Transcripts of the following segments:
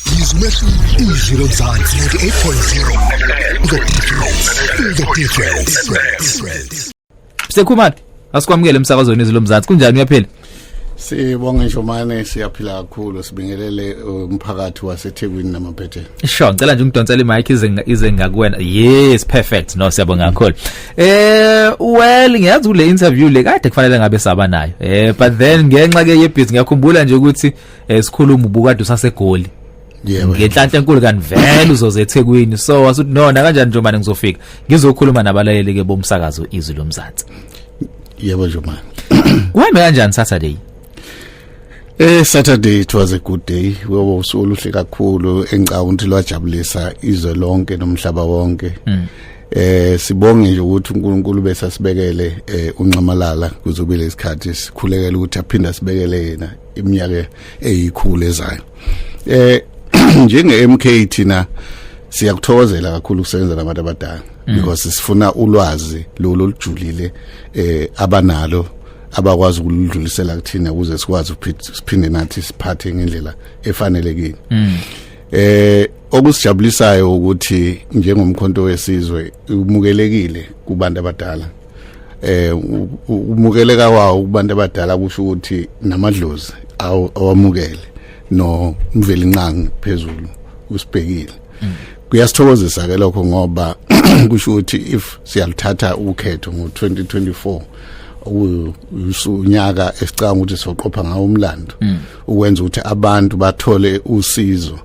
Izwi izwi lomzansi 98.0 The difference The difference Sekhumana asikwamukele emsakazweni izwi lomzansi kunjani uyaphila Sibonge Njomane siyaphila kakhulu sibingelele uh, umphakathi waseThekwini namaphetheni. Sure ngicela nje ungidonsele imic ize ize ngakuwena. Yes perfect no siyabonga kakhulu. Eh well ngiyazi kule interview le kade kufanele ngabe saba nayo. Eh but then ngenxa ke yebhizi ngiyakhumbula nje ukuthi esikhuluma eh, ubukade usasegoli yebo ngenhlanhla enkulu kanti vele uzoze eThekwini so wasuthi nona kanjani nje manje ngizofika ngizokhuluma nabalaleli ke bomsakazo izwi lomzansi yebo nje manje kuhambe kanjani saturday Eh Saturday it was a good day. Webo usuku oluhle kakhulu engicabanga lwajabulisa izwe lonke nomhlaba wonke. Mm. Eh sibonge nje ukuthi uNkulunkulu bese asibekele eh unxamalala kuzobe lesikhathi sikhulekela ukuthi aphinde asibekele yena iminyaka eyikhulu ezayo eh njenge MK thina siyakuthokozela kakhulu ukusebenza nabantu abadala mm. because sifuna ulwazi lolu olujulile eh abanalo abakwazi ukuludlulisela kuthina ukuze sikwazi ukuphinde nathi siphathe ngendlela efanelekile mm. eh okusijabulisayo ukuthi njengomkhonto wesizwe umukelekile kubantu abadala eh umukeleka kwawo kubantu abadala kusho ukuthi namadlozi awamukele no mvelinqangi phezulu usibhekile mm. kuyasithokozisa ke lokho ngoba kusho ukuthi if siyalithatha ukhetho ngo2024 usunyaka esicanga ukuthi soqopha ngawo umlando mm. ukwenza ukuthi abantu bathole usizo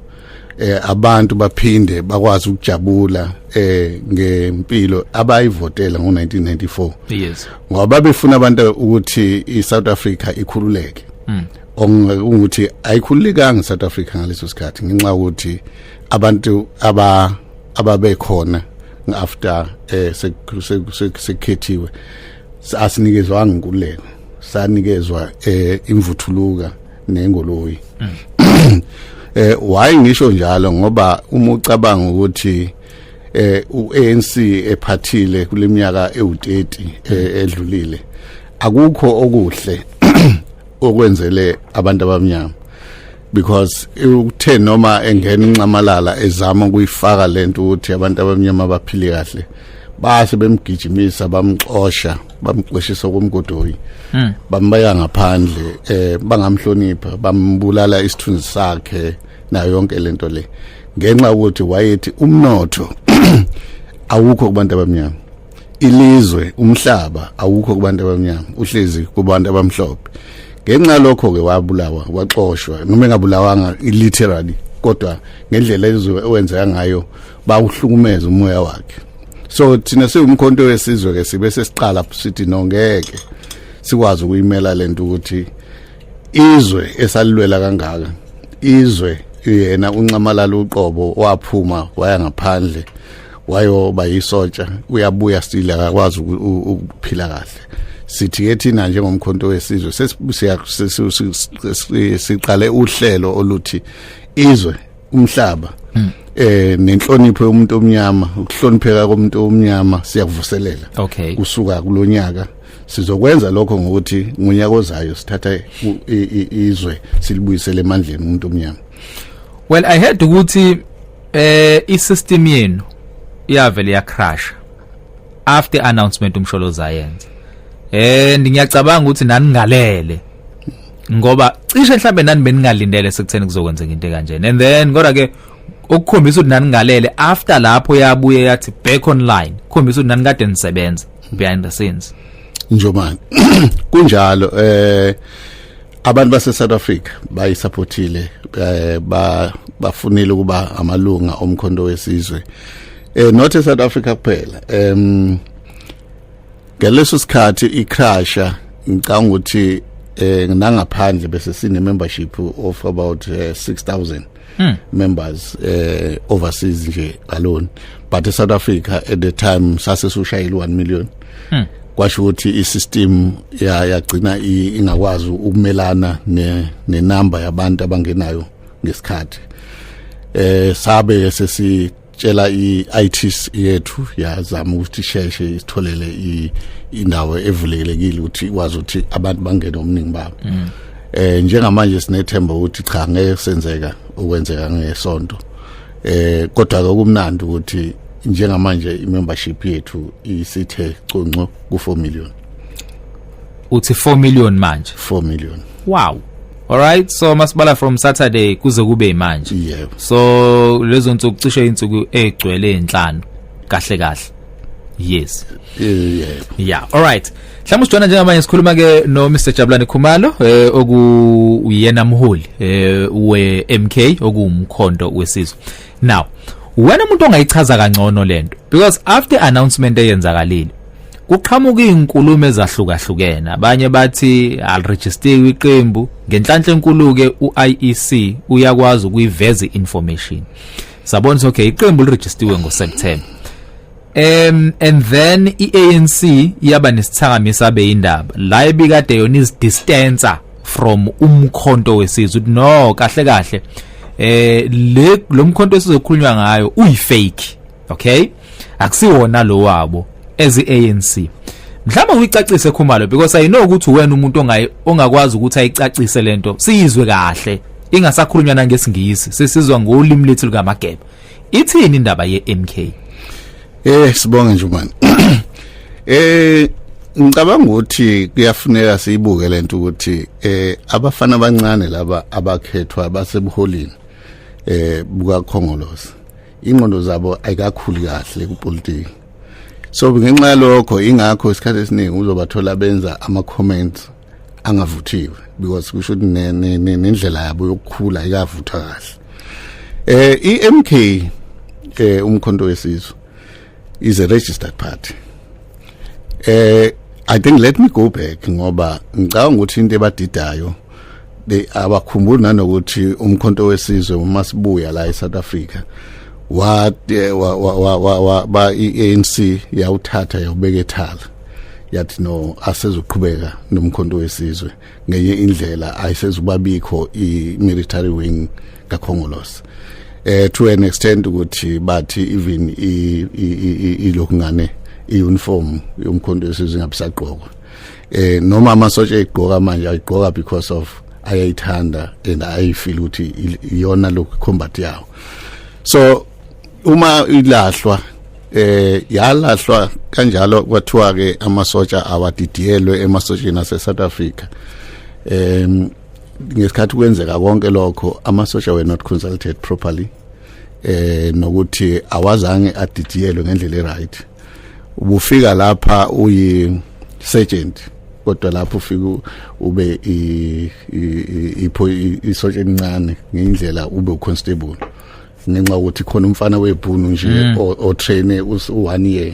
eh abantu baphinde bakwazi ukujabula eh ngempilo abayivotela ngo1994 yes ngoba befuna abantu ukuthi iSouth Africa ikhululeke mm. ongukuthi ayikhululekanga iSouth Africa ngaleso sikhathi ngenxa ukuthi abantu aba ababekhona after eh sekukhethiwe asinikezwanga inkululeko sanikezwa eh imvuthuluka nengoloyi mm. eh why ngisho njalo ngoba uma ucabanga ukuthi eh uANC ephathile kuleminyaka ewu30 eh, edlulile akukho okuhle okwenzele abantu abamnyama because uthe noma engena inxamalala ezama ukuyifaka lento ukuthi abantu abamnyama baphile kahle base bemgijimisa bamxosha bamxoshisa kumgodoyi hmm. bambeka ngaphandle eh bangamhlonipha bambulala isithunzi sakhe nayo yonke lento le ngenxa ukuthi wayethi umnotho awukho kubantu abamnyama ilizwe umhlaba awukho kubantu abamnyama uhlezi kubantu abamhlophe ngenxa lokho ke wabulawa waxoshwa noma engabulawanga literally kodwa ngendlela ezwe owenzeka ngayo bawuhlukumeza umoya wakhe so thina siwumkhonto wesizwe ke sibe sesiqala sithi no ngeke sikwazi ukuyimela lento ukuthi izwe esalilwela kangaka izwe yena uncamalala uqobo waphuma waya ngaphandle wayoba yisotsha uyabuya still akakwazi ukuphila kahle sithi ke thina njengomkhonto wesizwe sesiqale uhlelo oluthi izwe umhlaba hmm. eh nenhlonipho yomuntu omnyama ukuhlonipheka komuntu omnyama siyakuvuselela okay kusuka kulonyaka sizokwenza lokho ngokuthi ngonyaka ozayo sithatha izwe silibuyisele emandleni umuntu omnyama well i heard ukuthi eh isystem yenu iyavele ya crash after announcement umsholo zayenza eh ngiyacabanga ukuthi naningalele ngoba cishe mhlambe nani beningalindele sekutheni kuzokwenzeka into kanjena and then kodwa ke okukhombisa ukuthi nani ngalele after lapho yabuye yathi back online khombisa ukuthi nani kade nisebenza behind the scenes njomani kunjalo eh abantu base South Africa bayisupportile eh ba bafunile ukuba amalunga omkhondo wesizwe eh not e South Africa kuphela em um, ngaleso sikhathi icrusher ngicanga ukuthi eh nangaphandle bese sine membership of about uh, eh, 6000 hmm. members eh overseas nje alone but e South Africa at the time sase sushayile 1 million hmm. kwasho ukuthi isystem ya yagcina ingakwazi ukumelana ne nenamba yabantu abangenayo ngesikhathi eh sabe sesi tshela i-IT yethu yazama ukuthi sheshe isitholele indawo evulekelekile ukuthi ikwazi ukuthi abantu bangene omningi babo mm. eh njengamanje sinethemba ukuthi cha ngeke senzeka ukwenzeka ngesonto eh kodwa ke kumnandi ukuthi njengamanje imembership yethu isithe conco ku 4 million uthi 4 million manje 4 million wow Alright so masibala from Saturday kuze kube manje. Yebo. So lezo nsuku cishe insuku egcwele enhlanu kahle kahle. Yes. Yebo. Yeah, alright. Mhlawumbe sijona njengamanje sikhuluma ke no Mr Jabulani Khumalo eh oku uyena mholi eh we MK okuwumkhondo wesizwe. Now, wena umuntu ongayichaza kangcono lento because after announcement eyenzakalile Kuqhamuka izinkulumo ezahlukahlukene abanye bathi aliregistiwe iqembu ngenhlanhla enkulu ke uIEC uyakwazi ukuyiveza information sabona ukuthi okay iqembu liregistiwe ngoSeptember um and then iANC yaba nesithakamisa beyindaba la ebikade yona izidistancer from umkhonto wesizwe no kahle kahle eh le lomkhonto esizokhulunywa ngayo uyifake okay akusiwona lo wabo as ANC mhlawumbe uyicacise khumalo because i know ukuthi wena umuntu ongayi ongakwazi ukuthi ayicacise lento siyizwe kahle ingasakhulunywa nangesingisi sesizwa ngolimi lethu lukamageba ithini indaba yeMK eh sibonge nje manje eh ngicabanga ukuthi kuyafuneka siyibuke lento ukuthi eh abafana abancane laba abakhethwa basebuholini eh bukakhongolose ingqondo zabo ayikakhuli kahle kupolitiki so ngenxa yalokho ingakho isikhathi esiningi uzobathola benza ama-comments angavuthiwe because kusho ukuthi nendlela yabo yokukhula ayikavuthwa kahle um i-m k um umkhonto wesizwe is a registered party eh i think let me go back ngoba ngicabanga ukuthi into ebadidayo abakhumbuli nanokuthi umkhonto wesizwe uma sibuya la eSouth Africa wa eh, wa wa wa ba iANC yawuthatha yawubeka ethala yathi no asezoqhubeka nomkhonto wesizwe ngenye indlela ayisezubabikho i-military wing kakhongolose eh to an extent ukuthi bathi even ilokhungane iuniform yomkhonto wesizwe ingabisagqokwa eh noma amasotsha egqoka manje ayigqoka because of ayayithanda and ayifeel ukuthi iyona lokhu combat yawo so uma ilahlwa eh yalahlwa kanjalo kwathiwa ke amasotsha awadidiyelwe emasotsheni ase South Africa em ngesikhathi kwenzeka konke lokho amasotsha were not consulted properly eh nokuthi awazange adidiyelwe ngendlela eright ubufika lapha uyi sergeant kodwa lapho ufika ube ipho isotsha elincane ngendlela ube uconstable ngenxa yokuthi khona umfana webhunu nje mm. otraine u-one year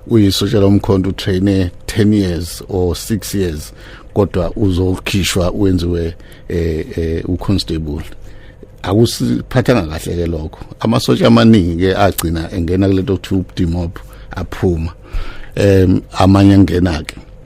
uyisotsha lomkhonto utraine 10 years or 6 years kodwa uzokhishwa wenziwe eh, eh uconstable akusiphathanga kahle ke lokho amasotsha amaningi ke agcina engena kulento kuthiwa ubudimop aphuma em amanye angena ke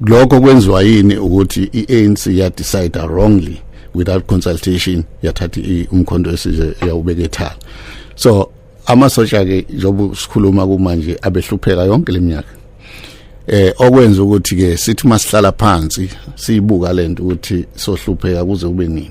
lokho kwenziwa yini ukuthi i-ANC ya decide wrongly without consultation yathatha umkhondo wesizwe yawubeka ethala so amasotsha ke njengoba sikhuluma kumanje abehlupheka yonke leminyaka eh okwenza ukuthi ke sithi masihlala phansi siyibuka lento ukuthi sohlupheka kuze kube nini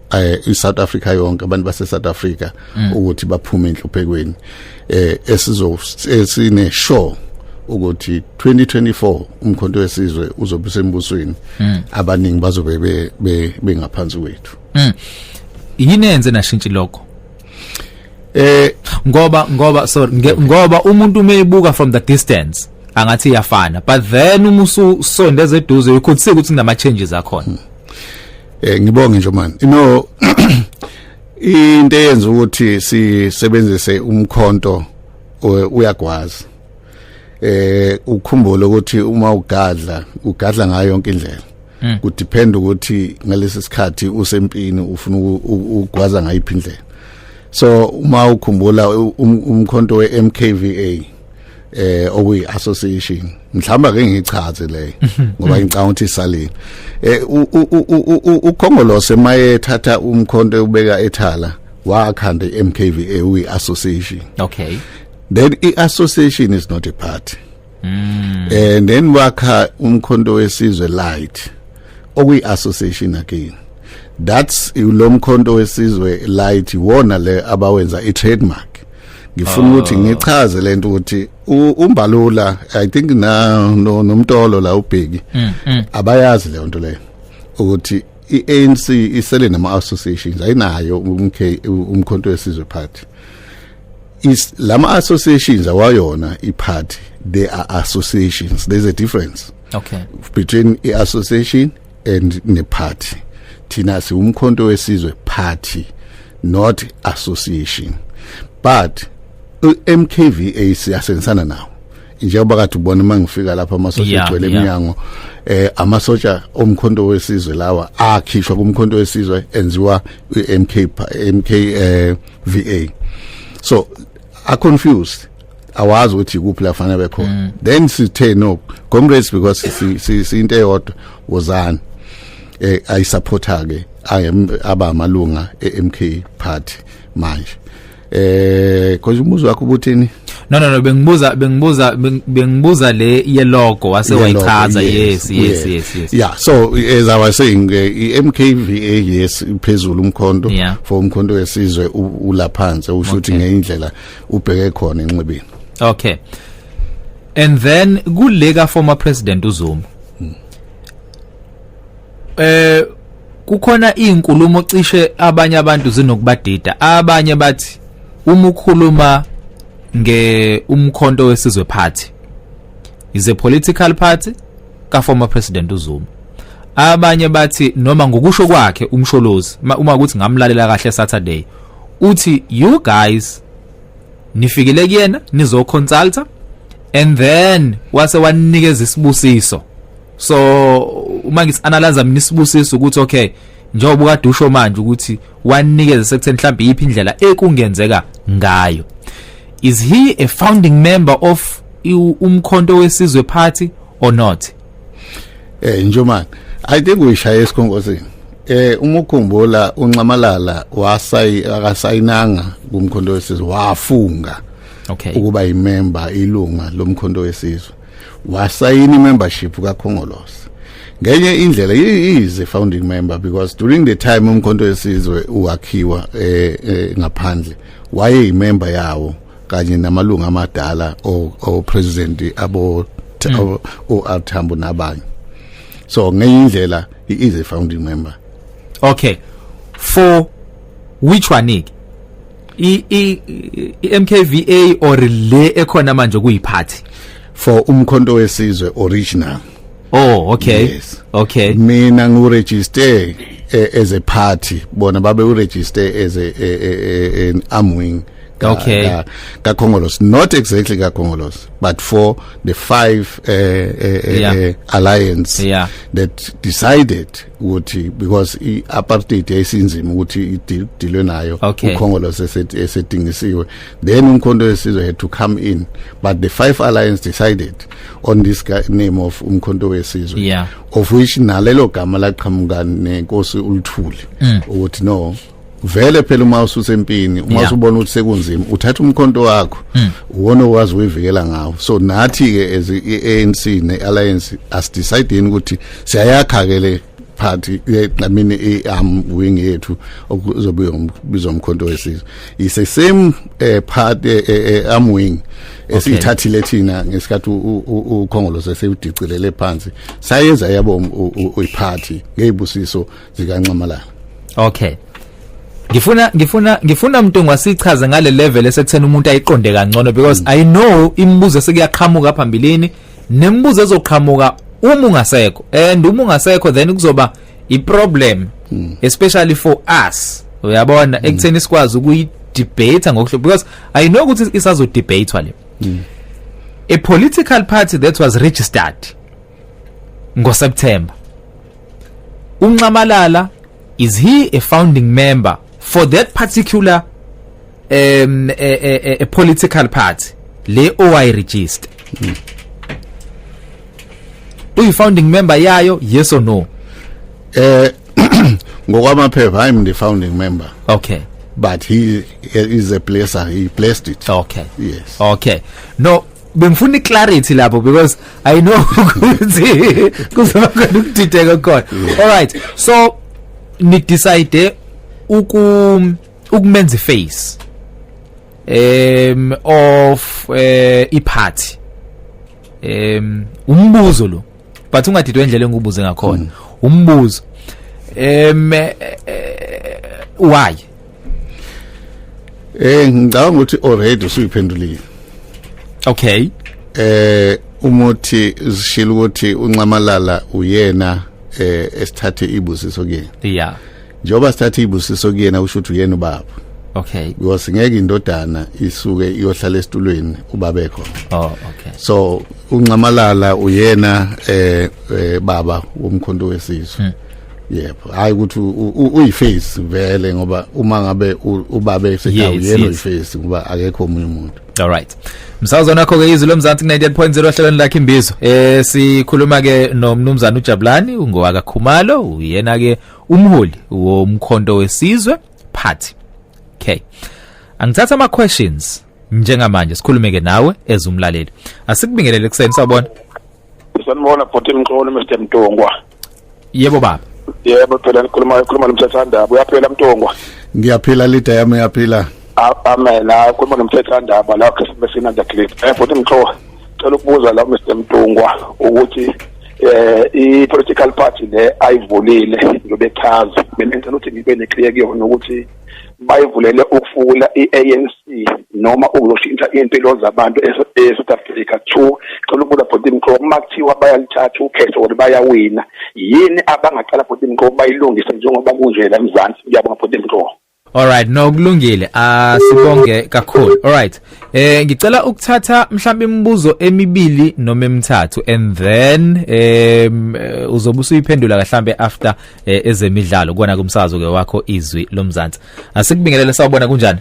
eh iSouth Africa yonke abantu base South Africa mm. ukuthi baphume enhluphekweni eh esizo esine show ukuthi 2024 umkhonto wesizwe uzobe sembusweni mm. abaningi bazobe be bengaphansi kwethu mm. yini enze nashintsha lokho eh ngoba ngoba sorry nge, okay. ngoba umuntu umeyibuka from the distance angathi iyafana but then uma usondeza eduze you could see ukuthi kunama changes akhona hmm. eh ngibonge nje man no into eyenza ukuthi sisebenzise umkhonto uyagwaza eh ukhumbule ukuthi uma ugadla ugadla ngayo yonke indlela hmm. kudepend ukuthi ngalesi sikhathi usempini ufuna ukugwaza ngayiphi indlela so uma ukhumbula um, umkhonto weMKVA eh okuyi association mhlamba ke ngichaze le ngoba ngicanga ukuthi salini eh ukhongolose maye thatha umkhonto ubeka ethala wakhanda iMKVA uyi association okay then i association is not a party mm. and then wakha umkhonto wesizwe light okuyi association again that's lo mkhonto wesizwe light wona le abawenza i trademark ngifuna ukuthi ah. ngichaze lento ukuthi umbalula i think na nomtolo la ubheki mm, mm. abayazi le nto leyo ukuthi iANC isele nama associations ayinayo umK umkhonto wesizwe party is lama associations awayona iparty they are associations there's a difference okay between i association and ne party thina siwumkhonto wesizwe party not association but MKVA siyasensana nawo njengoba kade ubona uma ngifika lapha amasosha yeah, egcwele eminyango yeah. eh amasosha omkhonto wesizwe lawa akhishwa kumkhonto wesizwe enziwa iMK MK eh, VA so are confused awazi ukuthi ikuphi la fanele bekhona mm. then sithe no comrades because siyinto eyodwa wozani eh ayi supporter ke aba amalunga eMK party manje eh konje umuzi wakho ubuthini no no no bengibuza bengibuza bengibuza le ye logo wase wayichaza yes yes yes yes yeah so as i was saying eh, i MKVA yes phezulu umkhonto for umkhonto wesizwe ulaphansi ushuthi ngeindlela ubheke khona enxebeni okay and then kuleka former president uZuma hmm. eh kukhona izinkulumo cishe abanye abantu zinokubadida abanye bathi uma ukhuluma nge umkhonto wesizwe party is a political party ka former president uZuma abanye bathi noma ngokusho kwakhe umsholozi uma ukuthi ngamlalela kahle Saturday uthi you guys nifikile kuyena nizo consulta and then wase wanikeza isibusiso so uma ngis analyze mina isibusiso ukuthi okay njengoba ukade usho manje ukuthi wanikeza sekutheni mhlawumbe iyiphi indlela ekungenzeka ngayo is he a founding member of umkhonto wesizwe party or not eh njomani i think uyishaye esikhongozini eh uma ukhumbula unxamalala wasayi akasayinanga kumkhondo wesizwe wafunga okay ukuba imember ilunga lomkhondo wesizwe wasayina imembership kakhongolose ngenye indlela is a founding member because during the time umkhonto wesizwe uwakhiwa eh, eh ngaphandle waye imember yawo kanye namalungu amadala o president abo mm. o Athambo nabanye so ngenye indlela he is a founding member okay for which one i i MKVA or le ekhona manje kuyiphathi for umkhonto wesizwe original Oh okay. Yes. Okay. Mina ngu register eh, as a party bona babe u register as a, a, a, a an arm wing. Ka, okay. Ka, ka Congolose not exactly ka Congolose but for the five uh, uh, yeah. uh, alliance yeah. that decided ukuthi because i apartheid yayisinzima ukuthi idilwe nayo okay. uKhongolose esedingisiwe then umkhonto wesizwe had to come in but the five alliance decided on this guy name of umkhonto wesizwe yeah. of which nalelo gama laqhamuka nenkosi uluthuli mm. ukuthi no vele phela uma ususempini uma yeah. usubona ukuthi sekunzima uthatha umkhonto wakho mm. uwona owazi uyivikela ngawo so nathi ke as iANC neAlliance as deciding ukuthi siyayakha ke le party i mean i am wing yethu okuzobe ubizwa umkhonto wesizwe is the same eh, party eh, eh, am wing esithathile thina ngesikhathi ukhongolo sesewudicilele phansi sayenza yabo um, uyiparty ngezibusiso zikanxamalala okay ngifuna ngifuna ngifuna mntu ngwasichaze ngale level esekuthena umuntu ayiqonde kangcono because mm. i know imibuzo sekuyaqhamuka phambilini nemibuzo ezoqhamuka uma ungasekho and uma ungasekho then kuzoba iproblem hmm. especially for us uyabona hmm. ekutheni sikwazi ukuyi debate ngokuhlo because i know ukuthi isazo debate wale hmm. a political party that was registered ngo September unxamalala is he a founding member for that particular um a, a, a political party le owayi register mm. uyi founding member yayo yes or no eh ngokwamaphepha i'm the founding member okay but he is a placer he placed it okay yes okay no bengifuna iclarity lapho because i know ukuthi kuzoba khona ukudideka khona all right so ni decide uku ukumenza iface um of uh, eh, iphathi um umbuzo lo but ungadidwe indlela engibuze ngakhona mm. umbuzo um eh, eh, why eh ngicabanga ukuthi already usuyiphendulile okay eh umuthi zishilo ukuthi unxamalala uyena eh esithathe ibusiso kuyena yeah njengoba sithatha ibusiso kuyena usho ukuthi uyena ubaba okay because ngeke indodana isuke iyohlala esitulweni ubaba ekho oh okay so unxamalala uyena eh, eh baba womkhonto wesizwe hmm. yebo hayi ukuthi uyiface vele ngoba uma ngabe ubabe esekhaya uyena uyiface ngoba akekho omunye umuntu all right msazwa nakho ke izwi lomzansi ku 98.0 ohlelweni lakhe imbizo eh sikhuluma ke nomnumzana uJabulani ungowaka Khumalo uyena ke umholi womkhonto wesizwe party okay angithatha ama questions njengamanje sikhulumeke nawe ezumlaleli asikubingelele kuseni sabona sanibona bhuti mxolo Mr Mtungwa yebo baba yebo phela ngikhuluma ngikhuluma nomthethandaba uyaphila Mtungwa ngiyaphila lida yami uyaphila amen akhuluma nomthethandaba la Christmas in the clip eh bhuti mxolo cela ukubuza la Mr Mtungwa ukuthi eh i-political party le ayivulile ngibechaza mina ngicela ukuthi ngibe neclear kuyona ukuthi bayivulele ukufuna i-ANC noma ukuzoshintsha impilo zabantu e-South Africa two cela ukubuza bhuti mqobo uma kuthiwa bayalithatha ukhetho or bayawina yini abangaqala bhuti mqobo bayilungise njengoba kunje la Mzansi ngiyabonga bhuti mqobo Alright no kulungile asibonge ah, kakhulu alright eh ngicela ukuthatha mhlawumbe imibuzo emibili noma emithathu and then eh uzobe usuyiphendula kahlambe after eh, ezemidlalo kona kumsazo ke wakho izwi lomzansi asikubingelele sawubona kunjani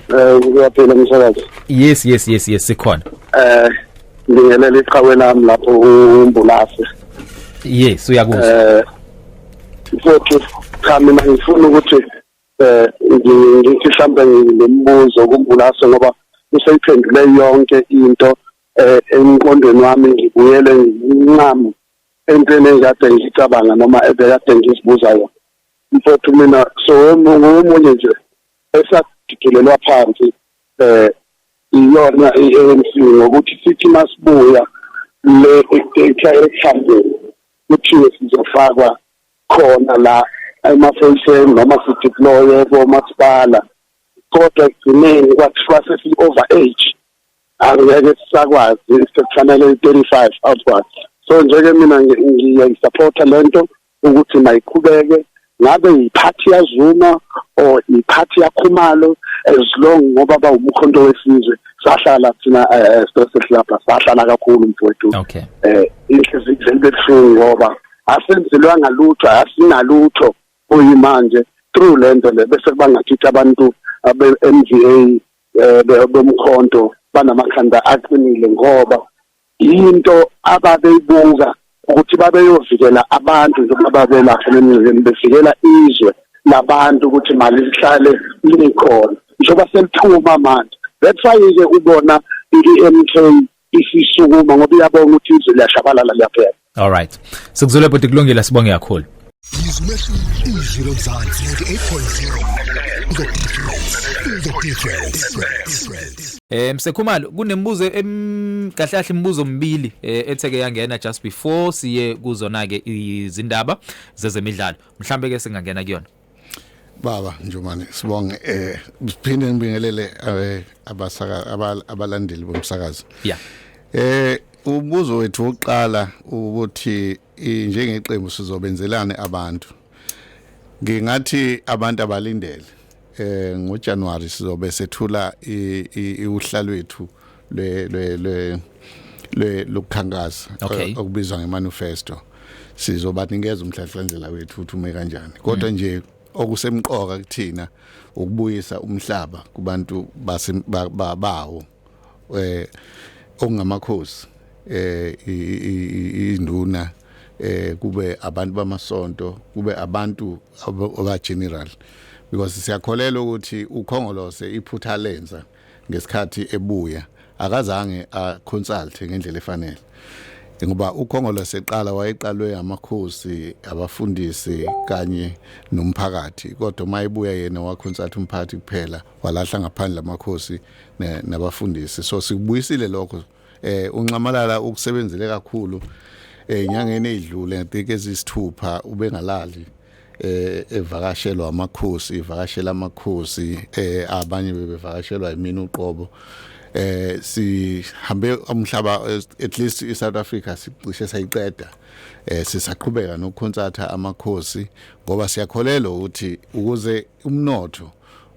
Eh ngiyaphila msakazi Yes yes yes yes sikhona Eh ngingelela iqhawe lami lapho umbulase Yes uyakuzwa Eh futhi cha mina ngifuna ukuthi eh ngithi mhlambe ngilombuzo kumbulaso ngoba useyiphendule yonke into eh emqondweni wami ngibuyele ngincamo entweni engikade ngicabanga noma ebekade ngizibuza yona mfowethu mina so ngomunye nje esadidulelwa phansi eh iyona i-ANC ngokuthi sithi masibuya le ekhambeni kuthiwe sizofakwa khona la emaphoyiseni noma sideploye komasipala kodwa ekugcineni kwathiwa sesi-over age angeke sisakwazi sekufanele i-thirty-five outwards so njeke mina ngiyayisapotha le nto ukuthi mayiqhubeke ngabe yiphathi yazuma or iphathi yakhumalo as long ngoba bawumkhonto wesizwe sahlala thina eh, especially lapha sahlala kakhulu mfowethu okay eh inhliziyo izinto ebuhlungu ngoba asenzelwanga lutho asinalutho oyimanje through lento le bese kubangathitha abantu abe MVA eh, bomkhonto banamakhanda aqinile ngoba into ababeyibuka ukuthi babeyovikela abantu njengoba babelapha nemizini bevikela izwe labantu ukuthi mali lihlale likhona njengoba selithuma manje that's why ke ubona i-MK isisukuma ngoba iyabonga ukuthi izwe liyashabalala liyaphela All right. Sikuzwile bhuti kulungile sibonge kakhulu. Izwi leshu izwi lomzansi 8.0 The difference The difference Eh msekhumalo kunemibuzo em kahle kahle imibuzo omibili eh, etheke yangena just before siye kuzona ke izindaba zezemidlalo mhlambe ke singangena kuyona Baba Njomane sibonge eh siphinde ngibingelele eh, abasaka abalandeli bomsakazo. Yeah. Eh ubuzo wethu oqala ukuthi njengeqembu sizobenzelane abantu. Ngingathi abantu abalindele eh ngoJanuary sizobe sethula ihlalwethu le le le le lokukhankasa okay. okubizwa ngemanifesto sizobanikeza umhlahlandlela wethu ukuthi ume kanjani kodwa mm. nje okusemqoka kuthina ukubuyisa umhlaba kubantu bawo eh okungamakhosi eh induna eh kube abantu bamasonto kube abantu aba general because siyakholelwa ukuthi ukhongolose iphutha lenza ngesikhathi ebuya akazange aconsult ngendlela efanele ngoba ukhongolo seqala wayeqalwe amakhosi abafundisi kanye nomphakathi kodwa uma ebuya yena wakhonsathi umphathi kuphela walahla ngaphandle amakhosi nabafundisi so sikubuyisile lokho eh unxamalala ukusebenzele kakhulu eh inyangeni edlule ngitike ezisithupha ubengalali eh evakashelwa amakhosi ivakashela amakhosi eh abanye bebevakashelwa yimina uqobo eh sihambe umhlaba at least iSouth Africa sicishe sayiqeda eh sisaqhubeka nokukhonsatha amakhosi ngoba siyakholelwa ukuthi ukuze umnotho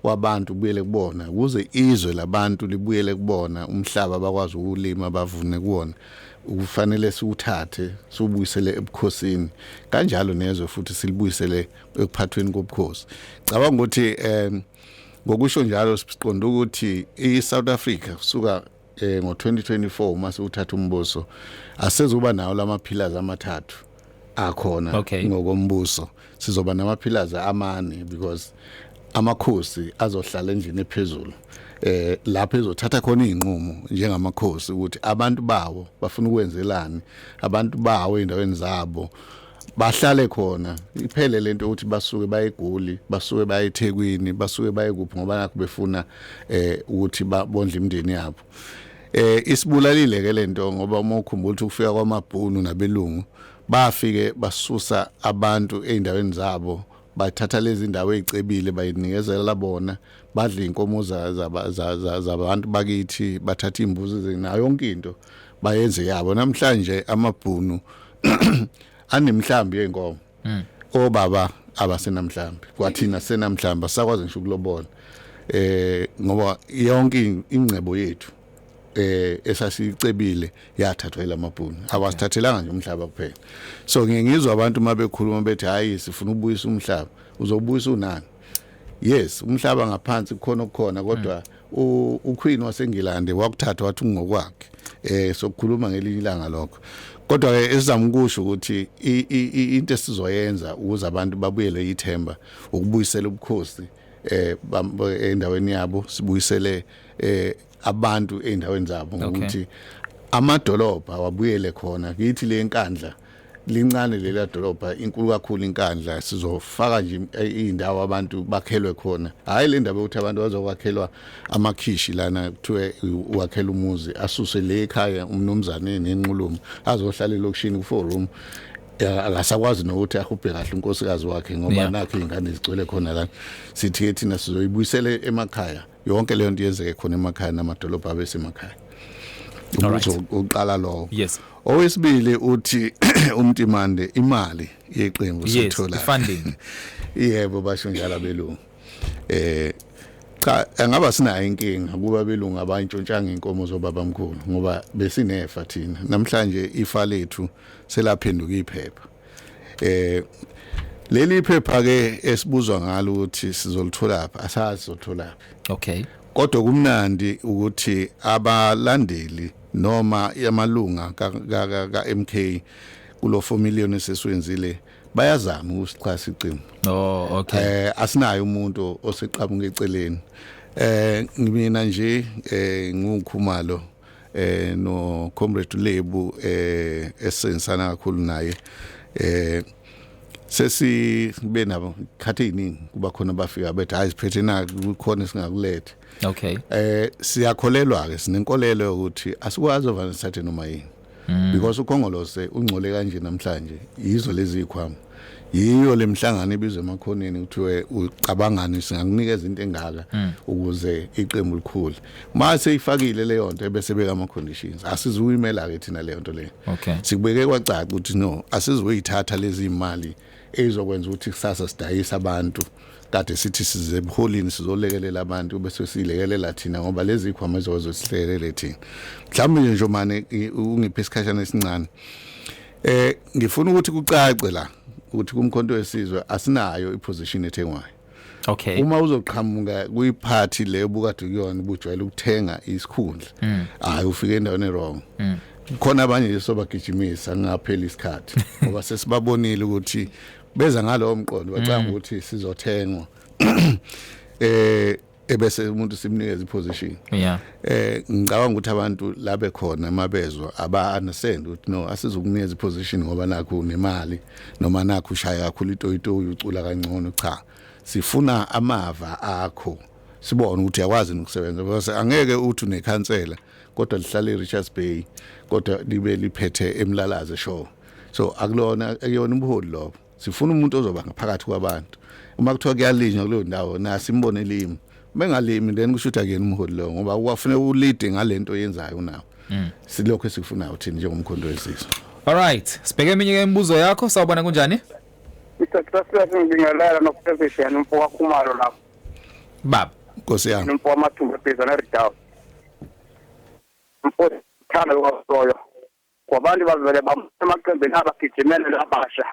wabantu ubuyele kubona ukuze izwe labantu libuyele kubona umhlaba bakwazi ukulima bavune kuwona ukufanele siwuthathe siwubuyisele ebukhosini kanjalo nezwe futhi silibuyisele ekuphathweni kobukhosi cabanga ukuthi um ngokusho njalo siqonda ukuthi i-south africa kusuka eh ngo2024 uma siwuthatha umbuso asezoba nawo lamaphilazi amathathu akhona okay. ngokombuso sizoba namaphilazi amane because amakhosi azohlala endlini ephezulu eh lapho ezothatha khona izinqumo njengamakhosi ukuthi abantu bawo bafuna ukwenzelani abantu bawo endaweni zabo bahlale khona iphele lento ukuthi basuke bayegoli basuke bayethekwini basuke bayekuphi ngoba nakho befuna eh ukuthi babondle imndeni yabo eh isibulalile ke lento ngoba uma ukhumbula ukuthi ukufika kwamabhunu nabelungu bafike basusa abantu eindaweni zabo bathatha lezi ndawo ezicebile bayinikezela bona badla inkomo zabantu bakithi bathatha imbuzi zenayo yonke into bayenze yabo namhlanje amabhunu anemhlambi yenkomo hmm. obaba abasenamhlambi kwathina senamhlambi asakwazi ngisho ukulobona eh ngoba yonke ingcebo yethu eh esasicebile yathathwa ilamabhunu awasithathelanga nje umhlaba kuphela so ngiye ngizwa abantu uma bekhuluma bethi hayi sifuna ubuyisa umhlaba uzobuyisa unani yes umhlaba ngaphansi kukhona okukhona kodwa hmm. uQueen waseNgilande wakuthatha wathi ungokwakhe eh sokukhuluma ngelinye ilanga lokho kodwa ke esizama ukusho ukuthi into esizoyenza ukuze abantu babuyele ithemba ukubuyisela ubukhosi eh endaweni yabo sibuyisele eh abantu eindaweni zabo ngokuthi amadolobha wabuyele khona kithi le nkandla lincane lela dolobha inkulu kakhulu inkandla sizofaka nje indawo abantu bakhelwe khona hayi le ndaba ukuthi abantu bazokwakhelwa amakhishi lana kuthiwe uwakhela umuzi asuse le ekhaya umnumzane nenqulumo azohlala elokishini kuforum akasakwazi nokuthi ahubhe kahle unkosikazi wakhe ngoba nakhe ingane zigcwele khona la sithi thina sizoyibuyisele emakhaya yonke leyo nto yenzeke khona emakhaya namadolobha abesemakhaya umbuzo uqala lowo yes owesibili uthi umtimande imali yeqembu sithola funding yebo basho njalo abelungu eh cha angaba sinayo inkinga kuba belungu abantshontshanga inkomo zobabamkhulu ngoba besinefa thina namhlanje ifa lethu selaphenduka iphepha eh leli phepha ke esibuzwa ngalo ukuthi sizolithola phi asazi sizothola phi okay kodwa kumnandi ukuthi abalandeli noma yamalunga ka ka ka MK kulo 4 million eseswenzile bayazama ukusixhasa iqembu oh okay eh asinayo umuntu oseqhamuka eceleni eh ngimina nje eh ngiwukhumalo eh no comrade Lebu eh esenzana kakhulu naye eh sesi be nabo khathi iningi kuba khona bafika bethi hayi siphethe na kukhona singakulethe okay eh siyakholelwa ke sinenkolelo ukuthi asikwazi ovanisathe noma yini mm. because ukhongolose ungcole kanje namhlanje yizo lezi zikhwama yiyo lemhlangano ibizwe emakhoneni kuthiwe ucabangani singakunikeza into engaka hmm. ukuze iqembu likhule mase ifakile leyo nto ebese beka ama conditions asizuyimela ke thina leyo nto leyo okay sikubeke kwacaca ukuthi no asizuyithatha lezi imali ezokwenza ukuthi kusasa sidayisa abantu kade sithi size ebuholini sizolekelela abantu bese silekelela thina ngoba lezi khwama ezozo silekelele thina mhlawumbe nje njomane ungiphe isikhashana esincane eh ngifuna ukuthi kucace la ukuthi kumkhonto wesizwe asinayo iposition ethengwayo Okay. Uma uzoqhamuka kuyiphathi leyo bukade kuyona ubujwayele ukuthenga isikhundla. Mm. Hayi ufike endaweni wrong. Mm. khona abanye nje sobagijimisa ngapheli isikhathi ngoba sesibabonile ukuthi beza ngalowo mqondo bacanga mm. ukuthi sizothengwa eh ebese umuntu simnikeza iposition yeah eh ngicabanga ukuthi abantu labe khona mabezwa aba understand ukuthi no asizokunikeza iposition ngoba nakho nemali noma nakho ushaya kakhulu itoyitoyi ucula kangcono cha sifuna amava akho sibone ukuthi yakwazi ukusebenza because angeke uthi unekhansela kodwa lihlale eRichards Bay kodwa libe liphethe emlalaze show so akulona ekuyona ubuholi lobo sifuna umuntu ozoba ngaphakathi kwabantu uma kuthiwa kuyalinywa kuleyo ndawo nasi imbone limi bengalimi then kusho ukuthi akuyena umholi lowo ngoba uwafuneka ulide ngale nto oyenzayo unawo mm. silokhu esikufunayo thina njengomkhondo wesizwe alright sibheke eminye ke imibuzo yakho sawubona kunjani Mr. Gracias ngibingelela nokuphezesha yani mfo wakhumalo lapho baba nkosi yami mfo wamathumba phezana redown mfo thanda kwasoyo Kwabantu bavele bambona emaqembini abagijimele labasha.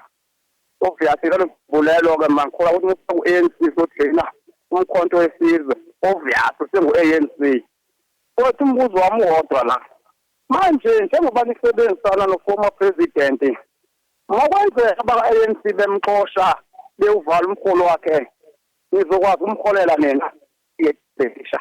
Obvious lelo mbulelo ke mangikhula ukuthi musa ku-ANC sodlina umkhonto wesizwe. Obvious sengu-ANC. Kodwa umbuzo wami uwodwa la. Manje njengoba nisebenzisana noformer president ngokwenzeka abaka-ANC bemxosha bewuvala umholo wakhe nizokwazi umholela nina yebhesha.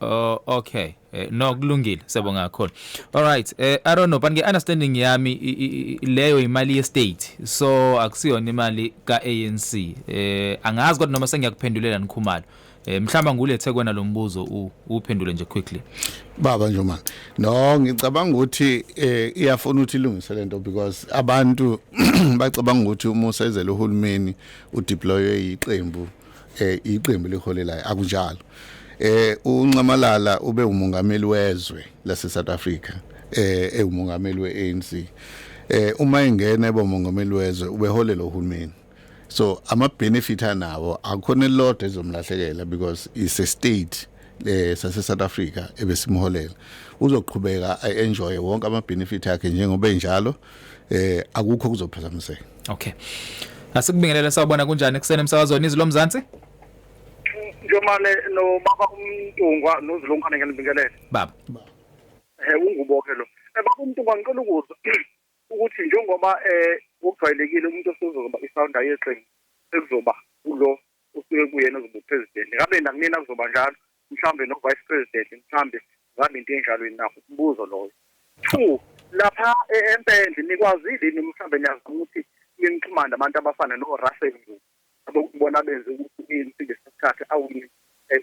Oh okay. Eh, no kulungile siyabonga kakhulu. All right. Eh I don't know but nge understanding yami i- i- i- leyo imali ye state. So akusiyona imali ka ANC. Eh angazi kodwa noma sengiyakuphendulela nikhumalo. Eh mhlamba ngulethe kwena lombuzo u- uphendule nje quickly. baba Njuman no ngicabanga ukuthi eh iyafuna ukuthi ilungise lento because abantu bacabanga ukuthi uma usezela uhulumeni udeploywe iqembu eh iqembu liholelayo akunjalo eh uncamalala ube umongameli wezwe lase South Africa eh ewumongameli weANC eh uma ingena eba umongameli wezwe ubeholela uhulumeni so ama benefit anawo akukhona lodwa ezomlahlekela because is a state eh sase South Africa ebesimholela uzoqhubeka enjoy wonke ama benefit akhe njengoba enjalo eh akukho kuzophazamiseka okay asikubingelele sawubona kunjani kusene emsakazweni izwi lomzansi njomane nobaba umntungwa nozilungane ngiyanibingelela baba eh ungubo ke lo eh baba umntungwa ngicela ukuza ukuthi njengoba eh ukujwayelekile umuntu osezoba ifounder yeqembu sekuzoba kulo usuke kuyena ozoba president ngabe nakunina kuzoba njalo mhlawumbe no vice president mhlawumbe ngabe into enjalo yini nakho umbuzo loyo two lapha e-, empendle nikwazile yini mhlawumbe niyazama ukuthi ninixhumane abantu abafana no-russell abokubona benze ukuthi insi ngesikhathi awini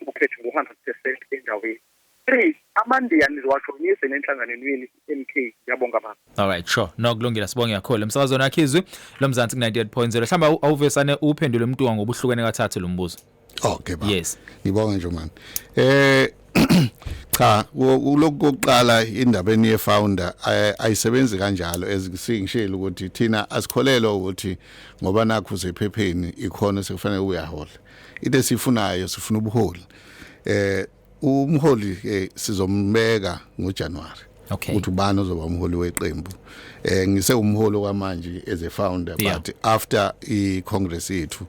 ukhetho ngo-hundred percent endaweni three amandiya niziwajoyinise nenhlanganweni yini MK ngiyabonga baba all right sure no kulungile sibonge kakhulu emsakazweni yakhe izwi lomzansi ku 98.0 hlamba awuvesane uphendule umuntu ngobuhlukene kathathu lombuzo okay baba yes ngibonga nje manje eh cha lokuqala indaba eniye founder ayisebenzi kanjalo ezingishilo ukuthi thina asikholelwa ukuthi ngoba nakho usephepheni ikhona sekufanele uyahola into esifunayo sifuna ubuholi eh umholi ke sizombeka ngoJanuary okay. ukuthi ubani ozoba umholi weqembu eh ngise umholi kwamanje as a founder yeah. but after i congress yethu